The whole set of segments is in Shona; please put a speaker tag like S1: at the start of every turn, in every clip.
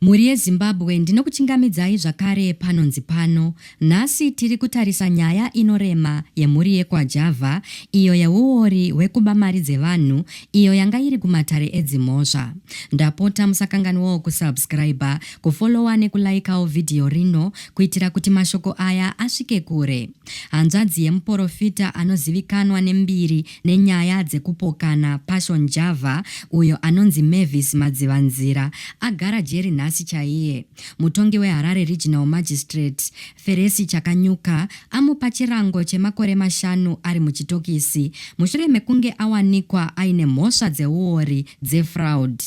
S1: Mhuri yeZimbabwe ndinokuchingamidzai zvakare panonzi pano. Nhasi tiri kutarisa nyaya inorema yemhuri yekwaJava iyo yeuori hwekuba mari dzevanhu iyo yanga iri kumatare edzimhosva. Ndapota musakanganwawo kusubscriber, kufollower nekulaikawo vhidhiyo rino kuitira kuti mashoko aya asvike kure. Hanzvadzi yemuporofita anozivikanwa nembiri nenyaya dzekupokana Passion Java uyo anonzi Mavis Madzivanzira agara jeri nhasi chaiye. Mutongi weHarare Regional Magistrate, Feresi Chakanyuka, amupa chirango chemakore mashanu ari muchitokisi mushure mekunge awanikwa aine mhosva dzeuori, dzefraud.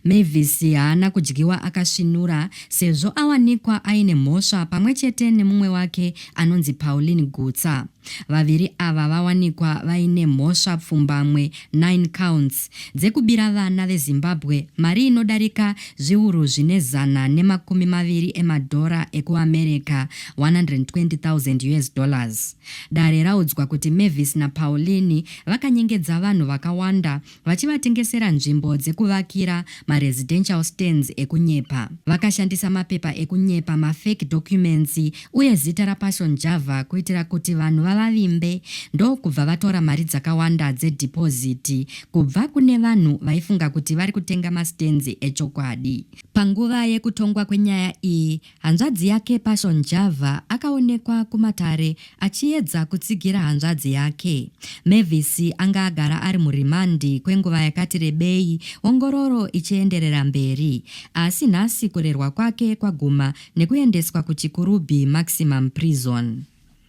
S1: Mavis haana kudyiwa akasvinura sezvo awanikwa aine mhosva pamwe chete nemumwe wake anonzi Pauline Gutsa. Vaviri ava vawanikwa vaine mhosva pfumbamwe 9 counts dzekubira vana veZimbabwe mari inodarika zviuru zvine zana nemakumi maviri emadhora ekuAmerica, 120,000 US dollars. Dare raudzwa kuti Mavis naPauline vakanyengedza vanhu vakawanda vachivatengesera nzvimbo dzekuvakira maresidential stands ekunyepa. Vakashandisa mapepa ekunyepa, mafake documents uye zita raPassion Java kuitira kuti vanhu vavavimbe ndokubva vatora mari dzakawanda dzedeposit kubva kune vanhu vaifunga kuti vari kutenga mastands echokwadi. Panguva yekutongwa kwenyaya iyi, Hanzvadzi yake Passion Java akaonekwa kumatare achiedza kutsigira hanzvadzi yake. Mavis anga agara ari murimandi kwenguva yakati rebei ongororo ichienderera mberi. Asi nhasi kurerwa kwake kwaguma nekuendeswa kuChikurubi Maximum Prison.